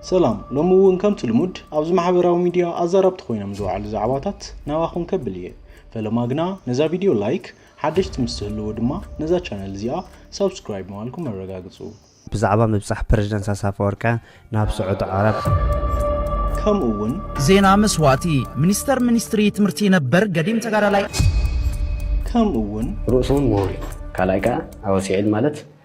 ሰላም ሎሚ እውን ከምቲ ልሙድ ኣብዚ ማሕበራዊ ሚድያ ኣዛረብቲ ኮይኖም ዝወዓሉ ዛዕባታት ናባኹም ከብል እየ ፈለማ ግና ነዛ ቪድዮ ላይክ ሓደሽቲ ምስ ትህልዎ ድማ ነዛ ቻነል እዚኣ ሳብስክራይብ ምባልኩም ኣረጋግፁ ብዛዕባ ምብጻሕ ፕረዚደንት ኣሳፈወርቀ ናብ ስዑዲ ዓረብ ከምኡ እውን ዜና መስዋእቲ ሚኒስተር ሚኒስትሪ ትምህርቲ ነበር ገዲም ተጋዳላይ ከምኡ እውን ርእሶም ወሪጡ ካልኣይ ከዓ ኣወሲዕል ማለት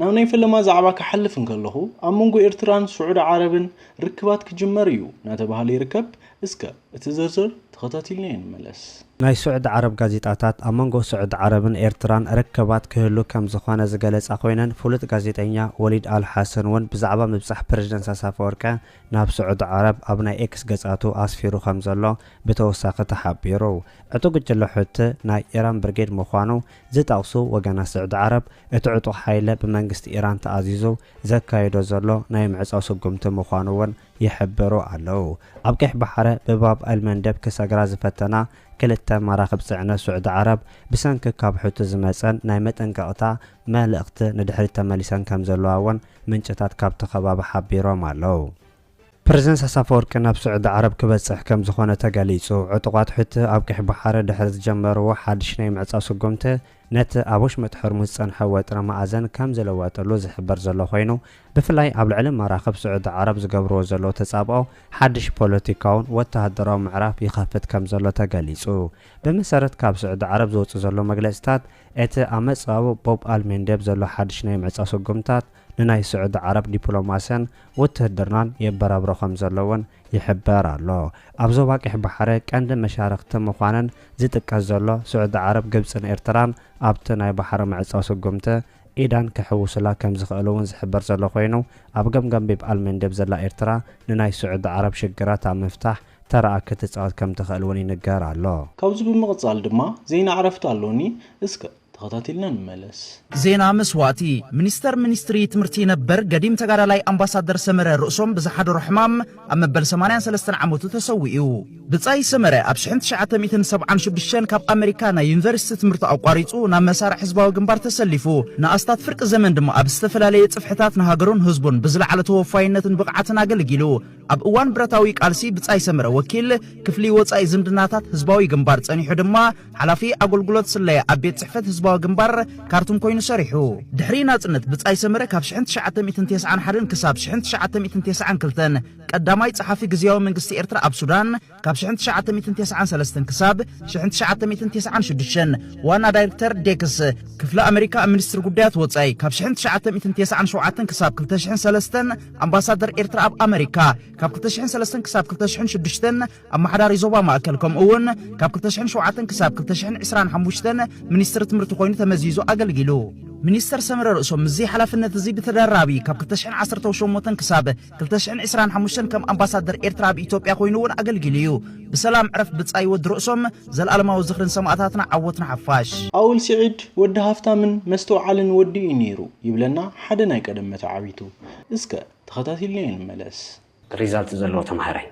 ናብ ናይ ፈለማ ዛዕባ ክሓልፍ እንከለኹ ኣብ መንጎ ኤርትራን ስዑዲ ዓረብን ርክባት ክጅመር እዩ እናተባህለ ይርከብ። እስከ እቲ ዝርዝር ተኸታቲልናዮ ንመለስ። ናይ ሱዕዲ ዓረብ ጋዜጣታት ኣብ መንጎ ሱዕዲ ዓረብን ኤርትራን ርክባት ክህሉ ከም ዝኾነ ዝገለጻ ኮይነን ፍሉጥ ጋዜጠኛ ወሊድ ኣል ሓሰን ውን ብዛዕባ ምብጻሕ ፕረዚደንት ኢሳያስ ኣፈወርቀ ናብ ሱዕዲ ዓረብ ኣብ ናይ ኤክስ ገጻቱ ኣስፊሩ ከም ዘሎ ብተወሳኺ ተሓቢሩ። ዕጡቕ ጉጅለ ሑቲ ናይ ኢራን ብርጌድ ምዃኑ ዝጠቕሱ ወገናት ሱዕዲ ዓረብ እቲ ዕጡቕ ሓይለ ብመንግስቲ ኢራን ተኣዚዙ ዘካይዶ ዘሎ ናይ ምዕጻው ስጉምቲ ምዃኑ ውን ይሕብሩ ኣለው። ኣብ ቀይሕ ባሕረ ብባብ ኣልመንደብ ክሰግራ ዝፈተና ክልተ መራኽብ ጽዕነት ሱዕዲ ዓረብ ብሰንኪ ካብ ሑቲ ዝመጸን ናይ መጠንቀቕታ መልእኽቲ ንድሕሪት ተመሊሰን ከምዘለዋ እውን ምንጭታት ካብቲ ከባቢ ሓቢሮም ኣለው። ፕረዚደንት ኢሳያስ ኣፈወርቂ ናብ ሱዕዲ ዓረብ ክበጽሕ ከምዝኾነ ተገሊጹ። ዕጡቓት ሑቲ ኣብ ቀይሕ ባሕረ ድሕሪ ዝጀመርዎ ሓድሽ ናይ ምዕጻው ስጉምቲ ነቲ ኣብ ወሽመጥ ሖርሙዝ ዝጸንሐ ወጥሪ መኣዘን ከም ዝልወጠሉ ዝሕብር ዘሎ ኮይኑ፣ ብፍላይ ኣብ ልዕሊ መራኽብ ስዑዲ ዓረብ ዝገብርዎ ዘለዉ ተጻብኦ ሓድሽ ፖለቲካውን ወተሃደራውን ምዕራፍ ይኸፍት ከም ዘሎ ተገሊጹ። ብመሰረት ካብ ስዑዲ ዓረብ ዝወጽእ ዘሎ መግለጺታት፣ እቲ ኣብ መጻብብ ቦብ ኣል ሜንዴብ ዘሎ ሓድሽ ናይ ምዕጻው ስጉምታት ንናይ ስዑዲ ዓረብ ዲፕሎማስያን ውትህድርናን የበራብሮ ከም ዘሎ'ውን ይሕበር ኣሎ። ኣብ ዞባ ቀይሕ ባሕሪ ቀንዲ መሻርኽቲ ምዃነን ዝጥቀስ ዘሎ ስዑዲ ዓረብ ግብጽን ኤርትራን ኣብቲ ናይ ባሕሪ ምዕጻው ስጉምቲ ኢዳን ክሕውሱላ ከም ዝኽእሉ'ውን ዝሕበር ዘሎ ኮይኑ ኣብ ገምገም ቢብ ኣልመንደብ ዘላ ኤርትራ ንናይ ስዑዲ ዓረብ ሽግራት ኣብ ምፍታሕ ተራኣ ክትጻወት ከም ትኽእል'ውን ይንገር ኣሎ። ካብዚ ብምቕጻል ድማ ዜና ዕረፍቲ ኣሎኒ እስከ። ተኸታቲልና ንመለስ። ዜና መስዋእቲ ሚኒስተር ሚኒስትሪ ትምህርቲ ነበር ገዲም ተጋዳላይ ኣምባሳደር ሰመረ ርእሶም ብዝሓደሮ ሕማም ኣብ መበል ሰማንያን ሰለስተን ዓመቱ ተሰዊኡ። ብጻይ ሰመረ ኣብ ሽሕን ትሽዓተ ሚእትን ሰብዓን ሽዱሽተን ካብ ኣመሪካ ናይ ዩኒቨርሲቲ ትምህርቱ ኣቋሪጹ ናብ መሳርዕ ህዝባዊ ግንባር ተሰሊፉ ንኣስታት ፍርቂ ዘመን ድማ ኣብ ዝተፈላለየ ጽፍሕታት ንሃገሩን ህዝቡን ብዝለዓለ ተወፋይነትን ብቕዓትን ኣገልጊሉ። ኣብ እዋን ብረታዊ ቃልሲ ብጻይ ሰመረ ወኪል ክፍሊ ወጻኢ ዝምድናታት ህዝባዊ ግንባር ጸኒሑ ድማ ሓላፊ ኣገልግሎት ስለያ ኣብ ቤት ጽሕፈት ህዝባዊ ግንባር ካርቱም ኮይኑ ሰሪሑ። ድሕሪ ናጽነት ብጻይ ሰመረ ካብ ሽሕን ትሽዓተ ሚእትን ቴስዓን ሓደን ክሳብ ሽሕን ትሽዓተ ሚእትን ቴስዓን ክልተን ቀዳማይ ጸሓፊ ግዝያዊ መንግስቲ ኤርትራ ኣብ ሱዳን ካብ ሽሕን ትሽዓተ ሚእትን ቴስዓን ሰለስተን ክሳብ ሽሕን ትሽዓተ ሚእትን ቴስዓን ሽዱሽተን ዋና ዳይርክተር ዴክስ ክፍሊ ኣመሪካ ኣብ ሚኒስትሪ ጉዳያት ወጻኢ ካብ ሽሕን ትሽዓተ ሚእትን ቴስዓን ሸውዓተን ክሳብ ክልተ ሽሕን ሰለስተን ኣምባሳደር ኤርትራ ኣብ ኣመሪካ ካብ ክልተ ሽሕን ሰለስተን ክሳብ ክልተ ሽሕን ሽዱሽተን ኣመሓዳሪ ዞባ ማእከል ከምኡ እውን ካብ ክልተ ሽሕን ሸውዓተን ክሳብ ክልተ ሽሕን ዕስራን ሓሙሽተን ሚኒስትሪ ትምህርቲ ኮይኑ ተመዚዙ ኣገልጊሉ ሚኒስተር ሰመረ ርእሶም ምስዚ ሓላፍነት እዚ ብተደራቢ ካብ ክልተ ሽሕን ዓሰርተው ሸሞንተን ክሳብ ክልተ ሽሕን ዕስራን ሓሙሽተን ከም ኣምባሳደር ኤርትራ ኣብ ኢትዮጵያ ኮይኑ እውን ኣገልጊሉ እዩ። ብሰላም ዕረፍ ብጻይ ወዲ ርእሶም፣ ዘልኣለማዊ ዝኽሪ ንሰማእታትና ዓወት ንሓፋሽ። ኣውል ሲዒድ ወዲ ሃፍታምን መስትውዓልን ወዲ እዩ ኔሩ ይብለና ሓደ ናይ ቀደም መተዓቢቱ። እስከ ተኸታቲልናዮ ንመለስ። ሪዛልት ዘለዎ ተምሃራይ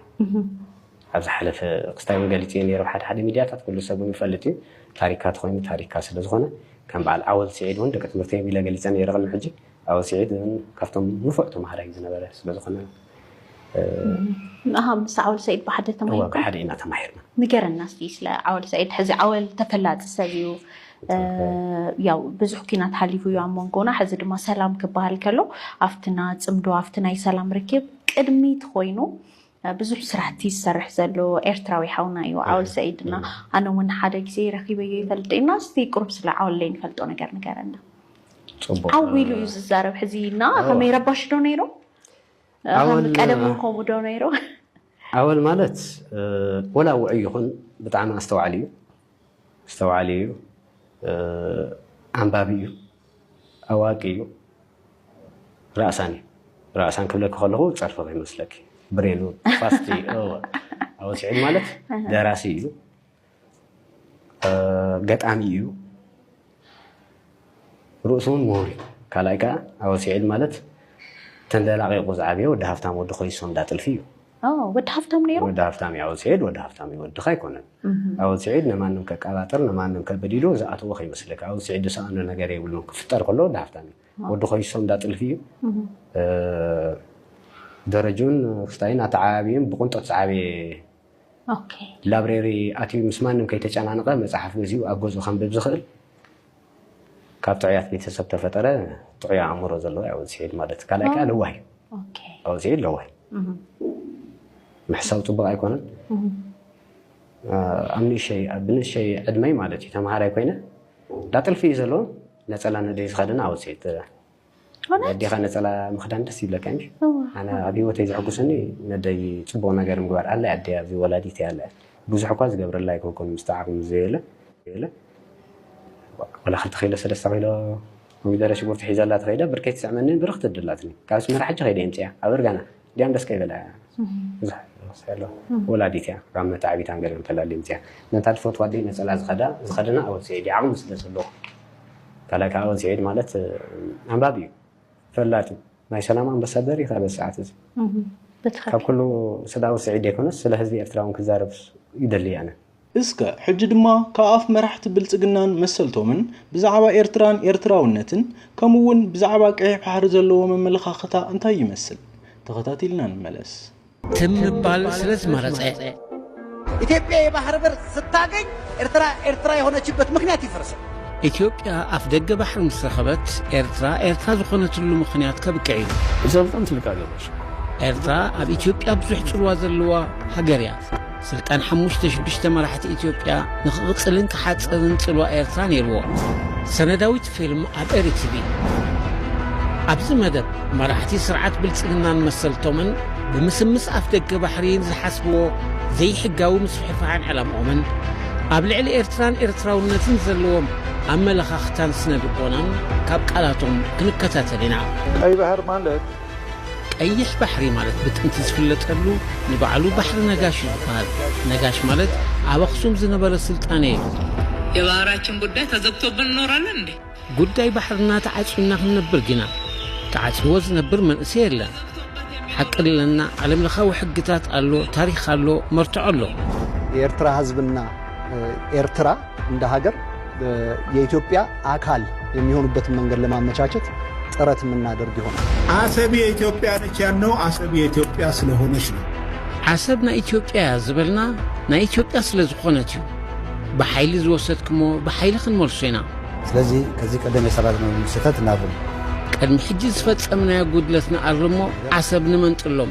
ኣብ ዝሓለፈ ክስታይ ውን ገሊጸዮ ኔረ ኣብ ሓደ ሓደ ሚድያታት ኩሉ ሰብ ውን ይፈልጥ እዩ ታሪካ ተኾይኑ ታሪካ ስለዝኾነ ከም በዓል ኣወል ሲዒድ ውን ደቂ ትምህርተይ ውን ኢለ ገሊጸ ኔረ ቅድሚ ሕጂ ኣወል ስዒድ እውን ካብቶም ንፉዕ ተምሃራይ ዝነበረ ስለ ዝኾነ ንኣኻ ምስ ዓወል ሰዒድ ብሓደ ተማሂርኩም? ብሓደ ኢና ተማሂርና። ንገረና እስቲ ስለ ዓወል ሰዒድ። ሕዚ ዓወል ተፈላጢ ሰብ እዩ ያው ብዙሕ ኩናት ሓሊፉ እዩ ኣብ መንጎና ሕዚ ድማ ሰላም ክበሃል ከሎ ኣብትና ፅምዶ ኣብቲ ናይ ሰላም ርክብ ቅድሚት ኮይኑ ብዙሕ ስራሕቲ ዝሰርሕ ዘሎ ኤርትራዊ ሓውና እዩ ዓወል ሰዒድ እና ኣነ እውን ሓደ ግዜ ረኪበዮ ይፈልጥ እና እስቲ ቁሩብ ስለ ዓወል ዘይንፈልጦ ነገር ንገረና ዓው ኢሉ እዩ ዝዛረብ ሕዚ እና ከመይ ረባሽ ዶ ነይሩ ቀደም እውን ከምኡ ዶ ነይሩ ዓወል ማለት ወላ ውዑይ ይኹን ብጣዕሚ ኣስተዋዕል እዩ ኣስተውዓሊ እዩ፣ ኣንባቢ እዩ፣ ኣዋቂ እዩ፣ ራእሳን እዩ። ራእሳን ክብለኪ ከለኹ ፀርፊ ከይመስለኪ ብሬኑ ፋስቲ ኣወል ስዒድ ማለት ደራሲ እዩ፣ ገጣሚ እዩ፣ ርእሱ እውን ምሁር እዩ። ካልኣይ ከዓ ኣወል ስዒድ ማለት ተንደላቂቑ ዝዓበየ ወዲ ሃፍታም ወዲ ኮይሶ እንዳ ጥልፊ እዩ። ወዲ ሃፍታም ነይሩ ወዲ ሃፍታም እዩ። ስዒድ ወዲ ሃፍታም እዩ፣ ወድኻ ኣይኮነን። ኣወል ስዒድ ንማንም ከቀባጥር ንማንም ከብድ ኢሉ ዝኣተዎ ከይመስለካ። ኣወል ስዒድ ዝሰኣኖ ነገር የብሉን። ክፍጠር ከሎ ወዲ ሃፍታም እዩ። ወዲ ኮይሶ እንዳ ጥልፊ እዩ። ደረጁን ሩፍታይን ኣተዓባቢኡን ብቕንጦት ዝዓበየ ላብሬሪ ኣትዩ ምስ ማንም ከይተጨናነቐ መፅሓፍ ገዚኡ ኣብ ገዝኡ ከንብብ ዝኽእል ካብ ጥዑያት ቤተሰብ ተፈጠረ ጥዑይ ኣእምሮ ዘለዎ ያው ስዒድ ማለት ካልኣይ ከዓ ለዋህ እዩ ኦኬ ያው ስዒድ ለዋህ እዩ። ምሕሳው ፅቡቅ ኣይኮነን ኣብ ንእሸይ ኣብ ንእሸይ ዕድመይ ማለት እዩ ተምሃራይ ኮይነ እንዳ ጥልፊ እዩ ዘለዎ ነፀላ ነደይ ዝኸደነ ኣብ ስዒድ ኣዴኻ ነፀላ ምኽዳን ደስ ይብለካ እንጂ ኣነ ኣብ ሂወተይ ዘሐጉሰኒ ነደይ ፅቡቅ ነገር ምግባር ኣለ ኣደ ኣብዚ ወላዲት ኣለ ብዙሕ እኳ ዝገብረላ ኣይኮንኩን ምስቲ ዓቅሚ ዘየለ ወላ ክልተ ኪሎ ሰለስተ ኪሎ ኮሚደረ ሽጉርቲ ሒዘላ ተኸይደ ብርከይ ትስዕመኒ ብርኽ ትድላትኒ ካብ ኣስመራ ሕጂ ከይደ የምፅያ ኣበር ጋና ዲያን ደስ ከይበላ እያ ብዙሕ ዘሎ ወላዲት እያ ካብ መታዕቢታ ገለ ተላልዮም እዚኣ ነታ ትፈትዋ ኣደይ ነፀላ ዝኸዳ ዝኸደና ኣወል ስዒድ ዓቕሚ ስለ ዘለዎ ካልኣይ ከዓ ኣወል ስዒድ ማለት ኣንባቢ እዩ ፈላጥ እዩ ናይ ሰላም ኣምባሳደር እዩ ካበዚ ሰዓት እዚ ካብ ኩሉ ስለ ኣወል ስዒድ ዘይኮነስ ስለ ህዝቢ ኤርትራ እውን ክዛረብ ይደሊ ኣነ እስከ ሕጂ ድማ ካብ ኣፍ መራሕቲ ብልጽግናን መሰልቶምን ብዛዕባ ኤርትራን ኤርትራውነትን ከምኡ'ውን ብዛዕባ ቀይሕ ባሕሪ ዘለዎም ኣመለኻኽታ እንታይ ይመስል ተኸታቲልና ንመለስ። ትም ምባል ስለ ዝመረጸ። ኢትዮጵያ የባህር በር ስታገኝ ኤርትራ ኤርትራ የሆነችበት ምክንያት ይፈርሳል። ኢትዮጵያ ኣፍደገ ባሕሪ ምስ ረኸበት ኤርትራ ኤርትራ ዝኾነትሉ ምኽንያት ከብቅዕ እዩ። እዛ በጣም ትልቅ ሀገር ነች። ኤርትራ ኣብ ኢትዮጵያ ብዙሕ ጽልዋ ዘለዋ ሃገር እያ። ስልጣን ሓሙሽተ ሽዱሽተ መራሕቲ ኢትዮጵያ ንክቕጽልን ክሓጽርን ጽልዋ ኤርትራ ነይርዎ። ሰነዳዊት ፊልም ኣብ ኤሪ ቲቪ። ኣብዚ መደብ መራሕቲ ስርዓት ብልጽግናን መሰልቶምን ብምስምስ ኣፍ ደገ ባሕሪ ዝሓስብዎ ዘይሕጋዊ ምስፍሕፋሕን ዕላምኦምን ኣብ ልዕሊ ኤርትራን ኤርትራውነትን ዘለዎም ኣመለኻኽታን ስነ ልቦናን ካብ ቃላቶም ክንከታተል ኢና። ቀይ ባህር ማለት ቀይሕ ባሕሪ ማለት ብጥንቲ ዝፍለጠሉ ንባዕሉ ባሕሪ ነጋሽ እዩ ዝበሃል። ነጋሽ ማለት ኣብ ኣኽሱም ዝነበረ ስልጣነ እዩ። የባህራችን ጉዳይ ተዘግቶብን እኖራለን እንዴ? ጉዳይ ባሕርና ተዓጽዩና ክንነብር ጊና ተዓጽይዎ ዝነብር መንእሰይ የለን። ሓቂ ለና ዓለምለኻዊ ሕግታት ኣሎ፣ ታሪኽ ኣሎ፣ መርትዖ ኣሎ። የኤርትራ ህዝብና ኤርትራ እንደ ሀገር የኢትዮጵያ አካል የሚሆኑበትን መንገድ ለማመቻቸት ጥረት የምናደርግ ይሆናል። አሰብ የኢትዮጵያ ነች ያልነው አሰብ የኢትዮጵያ ስለሆነች ነው። ዓሰብ ናይ ኢትዮጵያ እያ ዝበልና ናይ ኢትዮጵያ ስለ ዝኾነት እዩ ብሓይሊ ዝወሰድክሞ ብሓይሊ ክንመልሶ ኢና ስለዚ ከዚህ ቀደም የሰራነው ስህተት እናርም ቅድሚ ሕጂ ዝፈጸምናዮ ጉድለት ንኣርሞ ዓሰብ ንመንጥሎም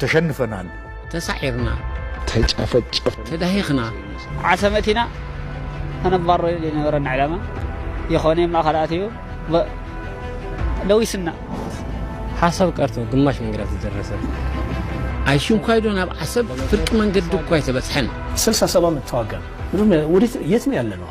ተሸንፈናል። ተሳዒርና። ተጨፈጨፍና። ተዳሂኽና። ዓሰመት ኢና ከነባርሮ ዘይነበረና ዕላማ ይኾነ ኣብ ማእኸል ኣትዩ ለዊስና። ሓሳብ ቀርቶ ግማሽ መንገዳ ተደረሰ። ኣይሽንኳይዶ ናብ ዓሰብ ፍርቂ መንገዲ እኳ ኣይተበጽሐን። ስልሳ ሰባ ምተዋጋን የት ነው ያለነው?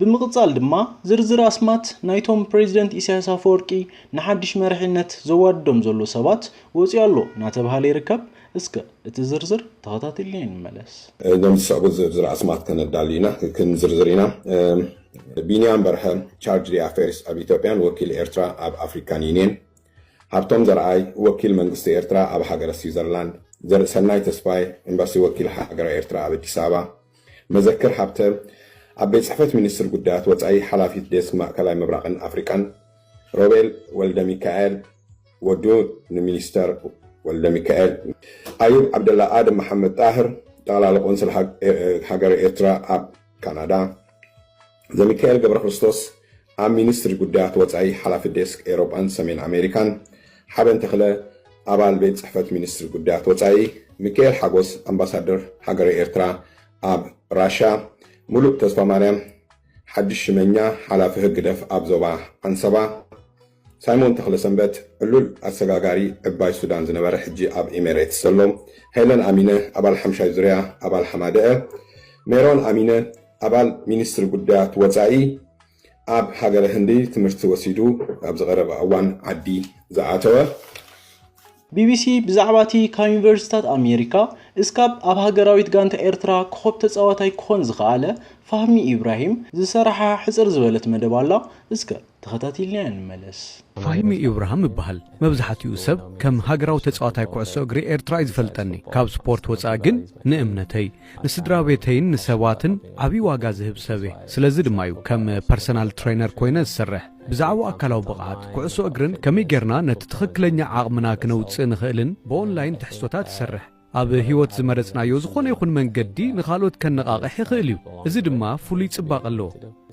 ብምቕጻል ድማ ዝርዝር ኣስማት ናይቶም ፕረዚደንት ኢሳያስ ኣፈወርቂ ንሓድሽ መሪሕነት ዘዋድዶም ዘሎ ሰባት ወጺኡ ኣሎ እናተብሃለ ይርከብ። እስከ እቲ ዝርዝር ተኸታቲልና ንመለስ። እዞም ዝስዕቡ ዝርዝር ኣስማት ከነዳሊ ኢና፣ ክንዝርዝር ኢና። ቢንያም በርሀ፣ ቻርጅ ዲ ኣፌርስ ኣብ ኢትዮጵያን ወኪል ኤርትራ ኣብ ኣፍሪካን ዩኒየን፣ ሃብቶም ዘርኣይ፣ ወኪል መንግስቲ ኤርትራ ኣብ ሃገረ ስዊዘርላንድ፣ ዘርእሰናይ ተስፋይ፣ ኤምባሲ ወኪል ሃገረ ኤርትራ ኣብ ኣዲስ ኣበባ፣ መዘክር ሃብተ፣ ኣብ ቤት ጽሕፈት ሚኒስትር ጉዳያት ወጻኢ ሓላፊት ዴስክ ማእከላይ ምብራቕን ኣፍሪቃን፣ ሮቤል ወልደሚካኤል፣ ወዱ ንሚኒስተር ወልደሚካኤል ኣዩብ ዓብደላ ኣደም መሓመድ ጣህር ጠቕላሊ ቆንስል ሃገረ ኤርትራ ኣብ ካናዳ ዘሚካኤል ገብረክርስቶስ ኣብ ሚኒስትሪ ጉዳያት ወፃኢ ሓላፊ ዴስክ ኤሮጳን ሰሜን ኣሜሪካን ሓበን ተኽለ ኣባል ቤት ፅሕፈት ሚኒስትሪ ጉዳያት ወፃኢ ሚካኤል ሓጎስ ኣምባሳደር ሃገረ ኤርትራ ኣብ ራሻ ሙሉእ ተስፋ ማርያም ሓድሽ ሽመኛ ሓላፊ ህግደፍ ኣብ ዞባ ዓንሰባ ሳይሞን ተኽለሰንበት ዕሉል ኣሰጋጋሪ ዕባይ ሱዳን ዝነበረ ሕጂ ኣብ ኢሜሬትስ ዘሎ፣ ሄለን ኣሚነ ኣባል ሓምሻይ ዙርያ ኣባል ሃማደኤ፣ ሜሮን ኣሚነ ኣባል ሚኒስትሪ ጉዳያት ወጻኢ ኣብ ሃገረ ህንዲ ትምህርቲ ወሲዱ ኣብዚ ቀረባ እዋን ዓዲ ዝኣተወ፣ ቢቢሲ ብዛዕባ እቲ ካብ ዩኒቨርሲታት ኣሜሪካ እስካብ ኣብ ሃገራዊት ጋንታ ኤርትራ ኮኾብ ተጻዋታይ ክኾን ዝኸኣለ ፋህሚ ኢብራሂም ዝሰራሓ ሕጽር ዝበለት መደብ ኣላ እስከ ተኸታቲልናያ ንመለስ። ፋሂሚ ኢብራህም እብሃል መብዝሓቲኡ ሰብ ከም ሃገራዊ ተጻዋታይ ኩዕሶ እግሪ ኤርትራ እዩ ዝፈልጠኒ ካብ ስፖርት ወጻኢ ግን ንእምነተይ ንስድራቤተይን ንሰባትን ዓቢ ዋጋ ዝህብ ሰብ እየ ስለዚ ድማ እዩ ከም ፐርሰናል ትረይነር ኮይነ ዝሰርሕ ብዛዕባ ኣካላዊ ብቕዓት ኩዕሶ እግርን ከመይ ጌርና ነቲ ትኽክለኛ ዓቕምና ክነውጽእ ንኽእልን ብኦንላይን ትሕዝቶታት ይሰርሕ። ኣብ ህይወት ዝመረጽናዮ ዝኾነ ይኹን መንገዲ ንኻልኦት ከነቓቕሕ ይኽእል እዩ፣ እዚ ድማ ፍሉይ ጽባቐ ኣለዎ።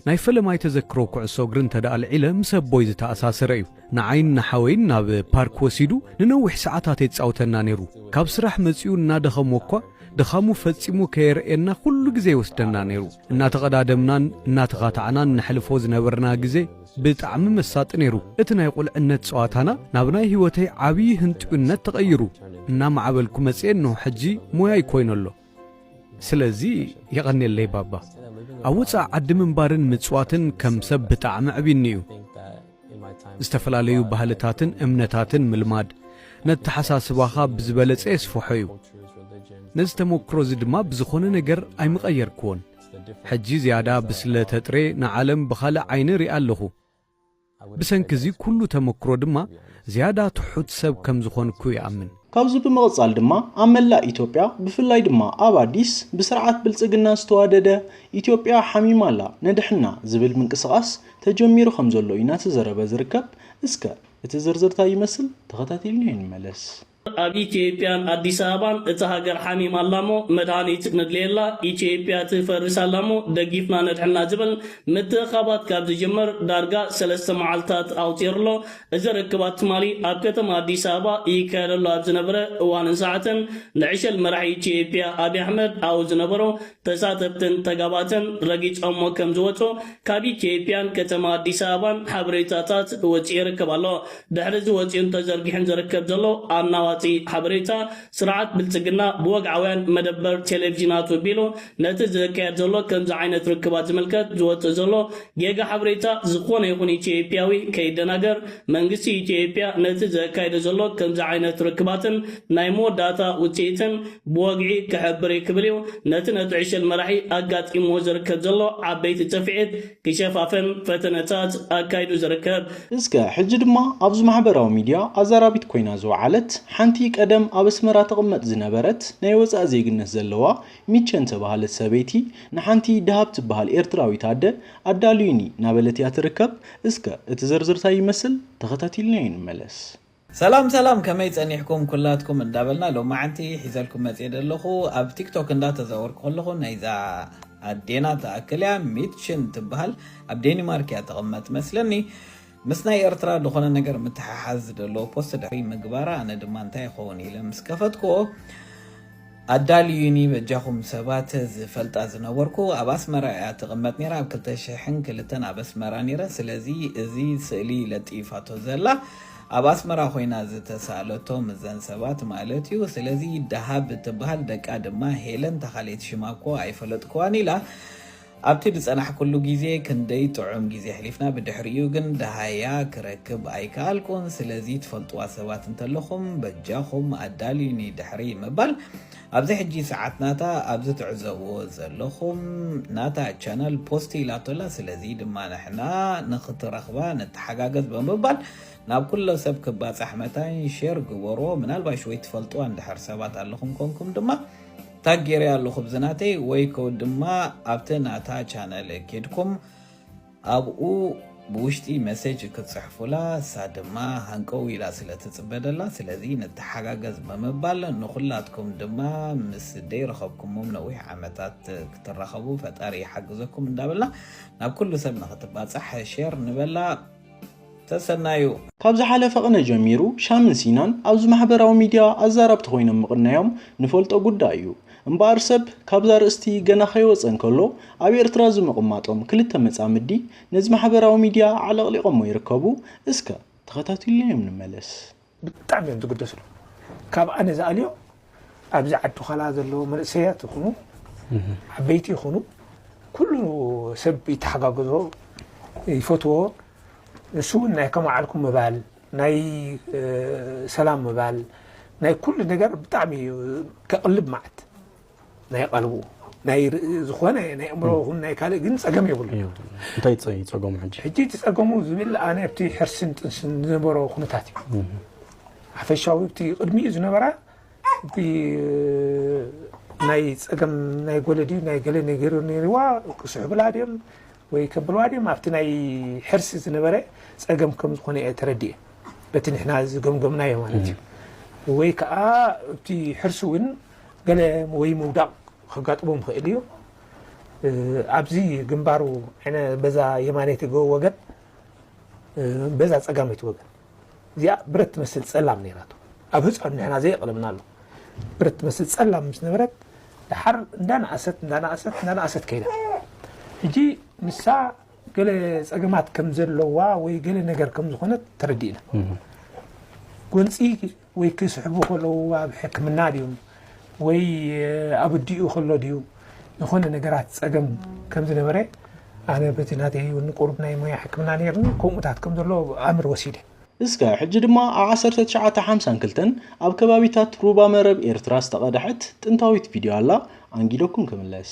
ናይ ፈለማይ ተዘክሮ ኩዕሶ እግሪ እንተ ደኣ ኣልዒለ ምስ ኣቦይ ዝተኣሳሰረ እዩ። ንዓይን ንሓወይን ናብ ፓርክ ወሲዱ ንነዊሕ ሰዓታት የጻውተና ነይሩ። ካብ ስራሕ መጺኡ እናደኸሞ እኳ ድኻሙ ፈጺሙ ከየርእየና ኩሉ ግዜ ይወስደና ነይሩ። እናተቐዳደምናን እናተኻታዕናን ነሕልፎ ዝነበርና ግዜ ብጣዕሚ መሳጢ ነይሩ። እቲ ናይ ቁልዕነት ጸዋታና ናብ ናይ ህይወተይ ዓብዪ ህንጥዩነት ተቐይሩ እናማዕበልኩ መጽየ እንሆ ሕጂ ሞያይ ኮይኑ ኣሎ። ስለዚ የቐኔለይ ባባ። ኣብ ወጻኢ ዓዲ ምንባርን ምጽዋትን ከም ሰብ ብጣዕሚ ኣዕቢዩኒ እዩ። ዝተፈላለዩ ባህልታትን እምነታትን ምልማድ ነተሓሳስባኻ ብዝበለጸ የስፍሖ እዩ ነዚ ተመክሮ እዚ ድማ ብዝኾነ ነገር ኣይምቐየርክዎን ሕጂ ዝያዳ ብስለ ተጥሬ ንዓለም ብኻልእ ዓይኒ ሪኣ ኣለኹ ብሰንኪ እዚ ኩሉ ተመክሮ ድማ ዝያዳ ትሑት ሰብ ከም ዝኾንኩ ይኣምን። ካብዚ ብምቕጻል ድማ ኣብ መላእ ኢትዮጵያ ብፍላይ ድማ ኣብ ኣዲስ ብስርዓት ብልጽግና ዝተዋደደ ኢትዮጵያ ሓሚማ ኣላ ንድሕና ዝብል ምንቅስቓስ ተጀሚሩ ከም ዘሎ እዩ ናተዘረበ ዝርከብ እስከ እቲ ዝርዝር ታይ ይመስል ተኸታቲልናዮ ንመለስ። ኣብ ኢትዮጵያን ኣዲስ ኣበባን እታ ሃገር ሓሚም ኣላሞ መድሃኒት ነድልየላ ኢትዮጵያ ትፈርስ ኣላሞ ደጊፍና ነድሕና ዝብል ምትእኻባት ካብ ዝጅምር ዳርጋ ሰለስተ መዓልታት ኣቁጺሩ ኣሎ እዚ ርክባት ትማሊ ኣብ ከተማ ኣዲስ ኣበባ ይካየደሉ ኣብ ዝነበረ እዋንን ሰዓትን ንዕሸል መራሒ ኢትዮጵያ ኣብይ ኣሕመድ ኣብኡ ዝነበሩ ተሳተፍትን ተጋባእትን ረጊፆሞ ከምዝወፁ ካብ ኢትዮጵያን ከተማ ኣዲስ ኣበባን ሓበሬታታት ወፂኡ ይርከብ ኣሎ። ድሕሪ እዚ ወፂኡን ተዘርጊሑን ዝርከብ ዘሎ ኣናዋፂ ሓበሬታ ስርዓት ብልፅግና ብወግዓውያን መደበር ቴሌቭዥናቱ ቢሉ ነቲ ዝካየድ ዘሎ ከምዚ ዓይነት ርክባት ዝምልከት ዝወፅእ ዘሎ ጌጋ ሓበሬታ ዝኾነ ይኹን ኢትዮጵያዊ ከይደናገር መንግስቲ ኢትዮጵያ ነቲ ዘካይዶ ዘሎ ከምዚ ዓይነት ርክባትን ናይ መወዳእታ ውጽኢትን ብወግዒ ክሕብር'ዩ ክብል እዩ ነቲ ነቲ ዕሸል መራሒ ኣጋጢምዎ ዝርከብ ዘሎ ዓበይቲ ጽፍዒት ክሸፋፍን ፈተነታት ኣካይዱ ዝርከብ። እስከ ሕጂ ድማ ኣብዚ ማሕበራዊ ሚድያ ኣዛራቢት ኮይና ዝወዓለት ሓንቲ ቀደም ኣብ ኣስመራ ትቕመጥ ዝነበረት ናይ ወጻኢ ዜግነት ዘለዋ ሚቸን ዝተባህለት ሰበይቲ ንሓንቲ ደሃብ ትበሃል ኤርትራዊት ኣደ ኣዳልዩኒ ናበለት'ያ ትርከብ እስከ እቲ ዝርዝር ታይ ይመስል ተኸታቲልናዮ ንመለስ። ሰላም ሰላም ከመይ ጸኒሕኩም ኩላትኩም እንዳበልና ሎማዓንቲ ሒዘልኩም መጽየ ደለኹ ኣብ ቲክቶክ እንዳ ተዛወርኩ ከለኹ ናይዛ ኣዴና ትኣክል እያ ሚትሽን ትብሃል ኣብ ዴኒማርክ እያ ትቕመጥ መስለኒ ምስ ናይ ኤርትራ ዝኾነ ነገር ምትሓሓዝ ደለዎ ፖስት ድሕሪ ምግባራ ኣነ ድማ እንታይ ይኸውን ኢለ ምስ ከፈትክዎ ኣዳልዩኒ በጃኹም ሰባት ዝፈልጣ ዝነበርኩ ኣብ ኣስመራ ኢያ ትቅመጥ ኔራ ኣብ ክልተ ሽሕን ክልተን ኣብ ኣስመራ ኔረ ስለዚ እዚ ስእሊ ለጢፋቶ ዘላ ኣብ ኣስመራ ኮይና ዝተሳእለቶ ምዘን ሰባት ማለት ኢዩ ስለዚ ዳሃብ ትባሃል ደቃ ድማ ሄለን ታካልኤቲ ሽማ እኮ ኣይፈለጥክዋን ኢላ ኣብቲ ዝጸናሕኩሉ ግዜ ክንደይ ጥዑም ግዜ ኣሕሊፍና ብድሕሪኡ ግን ደሃያ ክረክብ ኣይከኣልኩን ስለዚ ትፈልጥዋ ሰባት እንተለኹም በጃኹም ኣዳልዩኒ ድሕሪ ምባል ኣብዚ ሕጂ ሰዓት ናታ ኣብዚ ትዕዘብዎ ዘለኹም ናታ ቻነል ፖስት ኢላቶ ኣላ ስለዚ ድማ ንሕና ንኽትረኽባ ንተሓጋገዝ ብምባል ናብ ኩሎ ሰብ ክባጻሕ መታን ሼር ግበርዎ ምናልባሽ ወይ ትፈልጥዋ እንድሕር ሰባት ኣለኹም ኮንኩም ድማ ታግ ጌረያ ኣለኹ ብዝናተይ ወይ ከው ድማ ኣብቲ ናታ ቻነል ኬድኩም ኣብኡ ብውሽጢ መሴጅ ክትፅሕፉላ እሳ ድማ ሃንቀው ኢላ ስለ ትፅበ ደላ ስለዚ ንተሓጋገዝ ብምባል ንኹላትኩም ድማ ምስ ደይረኸብኩሞም ነዊሕ ዓመታት ክትራኸቡ ፈጣሪ ይሓግዘኩም እንዳበልና ናብ ኩሉ ሰብ ንክትባፃሕ ሼር ንበላ ሰሰናዩ። ካብ ዝሓለፈ ቕነ ጀሚሩ ሻምን ሲናን ኣብዚ ማሕበራዊ ሚድያ ኣዛራብቲ ኮይኖም ምቕናዮም ንፈልጦ ጉዳይ እዩ። እምበኣር ሰብ ካብዛ ርእስቲ ገና ከይወጸ እንከሎ ኣብ ኤርትራ ዝምቕማጦም ክልተ መጻምዲ ነዚ ማሕበራዊ ሚድያ ኣዕለቕሊቖሞ ይርከቡ። እስከ ተኸታቲልናዮም ንመለስ። ብጣዕሚ እዮም ዝግደስሉ ካብ ኣነ ዝኣልዮ ኣብዚ ዓዲ ኋላ ዘለዉ መንእሰያት ይኹኑ ዓበይቲ ይኹኑ ኩሉ ሰብ ይተሓጋገዞ ይፈትዎ ንሱ እውን ናይ ከመዓልኩም ምባል ናይ ሰላም ምባል ናይ ኩሉ ነገር ብጣዕሚ እዩ ከቕልብ መዓት ናይ ቐልቡ ናይ ዝኾነ ናይ ኣእምሮ ይኹን ናይ ካልእ ግን ጸገም የብሉ እንታይ እዩ ጸገሙ ሕጂ ሕጂ እቲ ጸገሙ ዝብል ኣነ ኣብቲ ሕርስን ጥንስን ዝነበሮ ኩነታት እዩ ሓፈሻዊ እቲ ቅድሚኡ ዝነበራ ናይ ጸገም ናይ ጎለዲ ናይ ገለ ነገር ነይርዋ ክስሕብላ ድዮም ወይ ከብልዋ ድዮም ኣብቲ ናይ ሕርሲ ዝነበረ ጸገም ከም ዝኾነ እየ ተረዲኤ በቲ ንሕና ዝገምገምናዮ ማለት እዩ ወይ ከዓ እቲ ሕርሲ እውን ገለ ወይ ምውዳቕ ከጋጥሞም ይኽእል እዩ። ኣብዚ ግንባሩ ዕነ በዛ የማነይቲ ወገን በዛ ጸጋመይቲ ወገን እዚኣ ብረት ትመስል ጸላም ነይራቶ ኣብ ህፃን ንሕና ዘየቕለምና ኣሎ ብረት ትመስል ጸላም ምስ ነበረት ድሓር እንዳነኣሰት እንዳነኣሰት እንዳነኣሰት ከይዳ ሕጂ ንሳ ገለ ጸገማት ከም ዘለዋ ወይ ገለ ነገር ከም ዝኾነት ተረዲእና ጎንፂ ወይ ክስሕቡ ከለዉ ኣብ ሕክምና ድዮም ወይ ኣብ ኣዲኡ ከሎ ድዩ ዝኾነ ነገራት ጸገም ከም ዝነበረ ኣነ በቲ ናተይ እውን ቁሩብ ናይ ሞያ ሕክምና ነይርኒ ከምኡታት ከም ዘሎ ኣምር ወሲደ። እስከ ሕጂ ድማ ኣብ ዓሰርተ ትሽዓተ ሓምሳን ክልተን ኣብ ከባቢታት ሩባ መረብ ኤርትራ ዝተቐድሐት ጥንታዊት ቪድዮ ኣላ ኣንጊደኩም ክምለስ።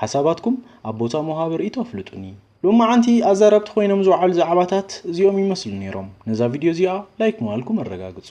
ሓሳባትኩም ኣብ ቦታ መውሃቢ ርእይቶ ኣፍልጡኒ። ሎማዓንቲ ኣዛረብቲ ኮይኖም ዝውዓሉ ዛዕባታት እዚኦም ይመስሉ ኔሮም። ነዛ ቪድዮ እዚኣ ላይክ ምባልኩም ኣረጋግጹ።